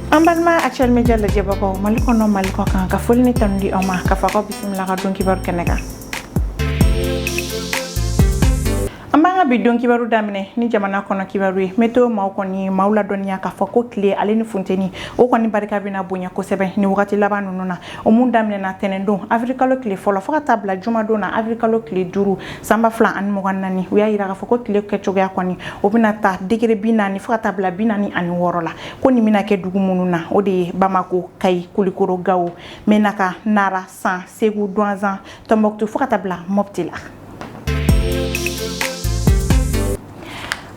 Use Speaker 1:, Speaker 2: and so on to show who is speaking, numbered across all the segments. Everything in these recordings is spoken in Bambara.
Speaker 1: an balima actuel media lajɛbagaw mali kɔnɔ mali kɔkan ka foli ni tanu di aw ma k'a fɔ k'aw bisimila ka don kibaru kɛnɛ kan an b'an ka bi don kibaru daminɛ ni jamana kɔnɔ kibaru ye météo maaw kɔni maaw ladɔnniya k'a fɔ ko tile ale ni funteni o kɔni barika bɛna bonya kosɛbɛ ni wagati laban ninnu na o mun daminɛna tɛnɛndon avrikalo tile fɔlɔ fɔɔ ka taa bila jumadon na avrikalo tile duuru san ba fila ani mugan naani u y'a yira k'a fɔ ko tile kɛcogoya kɔni o bɛna ta degere bi naani fo ka taa bila bi naani ani wɔɔrɔ la ko nin bɛna kɛ dugu minnu na o de ye bamako kayi kulikoro gawo mɛnaka nara san segu duwanzan tɔnbɔkutu fo ka taa bila mɔpti la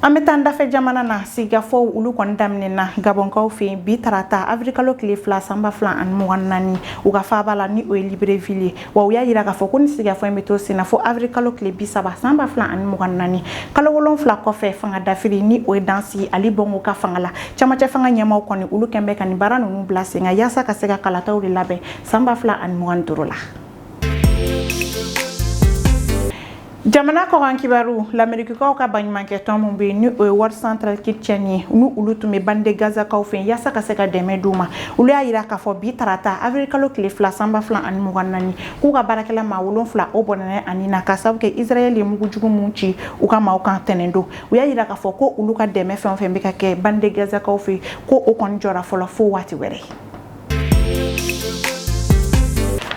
Speaker 1: an bɛ taa an dafɛ jamana na sigikafɔw olu kɔni daminɛna gabɔnkaw fɛ yen bi tarata avrikalo tile fila san ba fila ani mugan naani u ka faaba la ni o ye libreville ye wa u y'a yira k'a fɔ ko ni sigikafɔ in bɛ to senna fo avrikalo tile bi saba san ba fila ani mugan naani kalo wolonfila kɔfɛ fanga dafiri ni o ye dan sigi ali bongo ka fanga la camancɛ fanga ɲɛmaaw kɔni olu kɛn bɛ ka nin baara ninnu bila sen kan yaasa ka se ka kalataw de labɛn san ba fila ani mugan ni duuru la jamana kɔkan kibaru lamerikikaw ka baɲumankɛ tɔn min bɛ yen ni o ye world central kitchen ye ni olu tun bɛ bande gazakaw fɛ yaasa ka se ka dɛmɛ d'u ma olu y'a jira k'a fɔ bi tarata avril kalo tile fila san ba fila ani mugan naani k'u ka baarakɛla maa wolonfila o bɔnɛna a ni na k'a sababu kɛ israɛl ye mugu jugu min ci u ka maaw kan tɛnɛndon u y'a jira k'a fɔ ko olu ka dɛmɛ fɛn o fɛn bɛ ka kɛ bande gazakaw fɛ ko o kɔni jɔra fɔlɔ fo waati wɛrɛ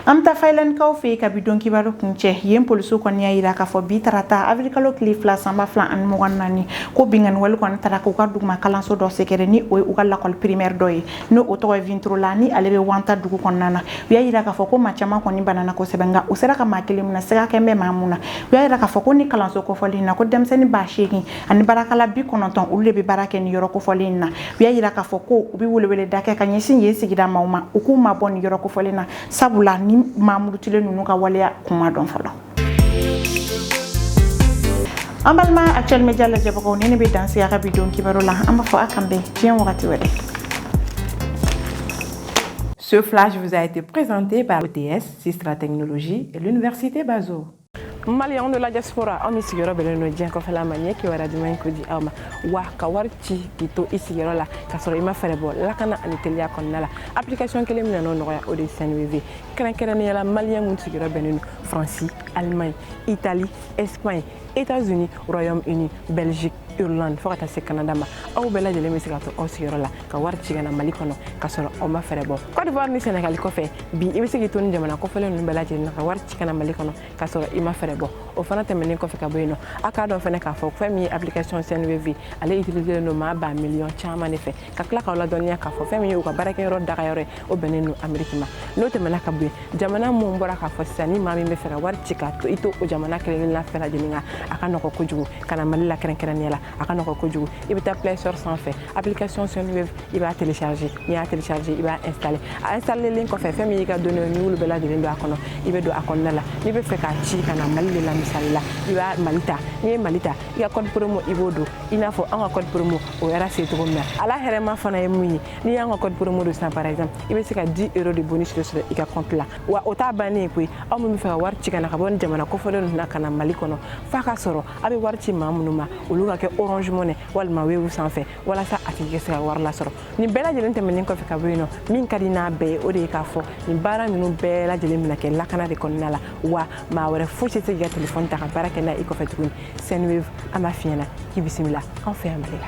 Speaker 1: An bɛ taa Finlandkaw fɛ yen ka bi don kibaru kuncɛ yen polisiw kɔni y'a jira k'a fɔ bi tarata avril kalo tile fila san ba fila ani mugan ni naani ko binkanni wale kɔni taara k'u ka duguma kalanso dɔ sɛgɛrɛ ni o ye u ka lakɔli primaire dɔ ye ni o tɔgɔ ye Viertola ni ale bɛ Vantaa dugu kɔnɔna na u y'a jira k'a fɔ ko maa caman kɔni banana kosɛbɛ nka u sera ka maa kelen minɛ siga kɛn bɛ maa min na u y'a jira k'a fɔ ko ni kalanso kofɔlen in na ko denmisɛnnin ba seegin ani baarakɛla bi kɔnɔntɔn olu de bɛ baara kɛ ni yɔrɔ kofɔlen in na u y'a jira k'a fɔ ko u bɛ weleweleda kɛ k'a ɲɛsin yen sigida maaw ma u k'u mabɔ ni yɔrɔ kofɔlen na sabula ni maa murutilen ninnu ka waleya kun ma dɔn fɔlɔ an balima actuel media lajɛbagaw nin de bɛ dan sigi an ka bi don kibaru la an b'a fɔ a k'an bɛn diɲɛ wagati
Speaker 2: wɛrɛ Ce flash vous a été présenté par OTS, Sistra Technologie et l'Université Bazo. Maliens de la diaspora, aw min sigiyɔrɔ bɛnnen don diɲɛ kɔfɛla ma ɲɛ kibaruya duman in ko di aw ma wa ka wari ci k'i to i sigiyɔrɔ la k'a sɔrɔ i ma frais bɔ lakana ani teliya kɔnɔna la application kelen min nan'o nɔgɔya o de ye Sendwave kɛrɛnkɛrɛnnenya la Maliens minnu sigiyɔrɔ bɛnnen don Faransi Allemagne Italie Espagne États-Unis Royaume Uni Belgique Irlande fo ka taa se Canada ma aw bɛɛ lajɛlen bɛ se ka to aw sigiyɔrɔ la ka wari ci ka na Mali kɔnɔ k'a sɔrɔ aw ma frais bɔ Côte d'Ivoire ni Sénégal kɔfɛ bi i bɛ se k'i to nin jamana kofɔlen ninnu bɛɛ lajɛlen na ka wari ci ka na mali kɔnɔ k'a sɔrɔ i ma frais bɔ o fana tɛmɛnen kɔfɛ ka bɔ yen nɔ a k'a dɔn fana k'a fɔ fɛn min ye application sendwave ale utiliselen don maa baa miliyɔn caman de fɛ ka tila k'aw ladɔnniya k'a fɔ fɛn min ye u ka baarakɛyɔrɔ dagayɔrɔ ye o bɛnnen don ameriki ma n'o tɛmɛna ka bɔ yen jamana minnu bɔra k'a fɔ sisan ni maa min bɛ fɛ ka wari ci k'a to i to o jamana kelen la fɛn lajɛlen kan a ka nɔgɔ kojugu ka na mali la kɛrɛnkɛrɛnnenya la a ka nɔgɔ kojugu i bɛ taa play store sanfɛ application sendwave i b'a télécharger n'i y'a télécharger i b'a installer a installer len kɔfɛ fɛn min y'i ka données n'i y'olu bɛɛ lajɛlen don a kɔnɔ i bɛ don a kɔnɔna la n'i bɛ fɛ k'a ci ka na mali de la misali la i bɛ mali ta n'i ye mali ta i ka code promo i b'o don i n'a fɔ an ka code promo o yɛrɛ se cogo min na ala hɛrɛma fana ye mun ye n'i y'an ka code promo don sisan par exemple i bɛ se ka 10 euro de bonus de sɔrɔ i ka compte la wa o t'a bannen ye koyi aw min bɛ fɛ ka wari ci ka na ka bɔ nin jamana kofɔlen ninnu na ka na mali kɔnɔ f'a ka sɔrɔ a bɛ wari ci maa minnu ma olu ka kɛ orange money walima wave sanfɛ walasa a tigi ka se ka wari lasɔrɔ nin bɛɛ lajɛlen tɛmɛnen kɔfɛ ka bɔ yen nɔ min ka di n'a bɛɛ ye o de ye k'a fɔ nin baara ninnu bɛɛ lajɛlen bɛna kɛ lakana de kɔnɔna la wa maa wɛrɛ fosi tɛ se k'i ka telefɔni ta ka baara kɛ n'a i kɔfɛ tuguni sendwave an b'a f'i ɲɛna k'i bisimila an fɛ yan mali la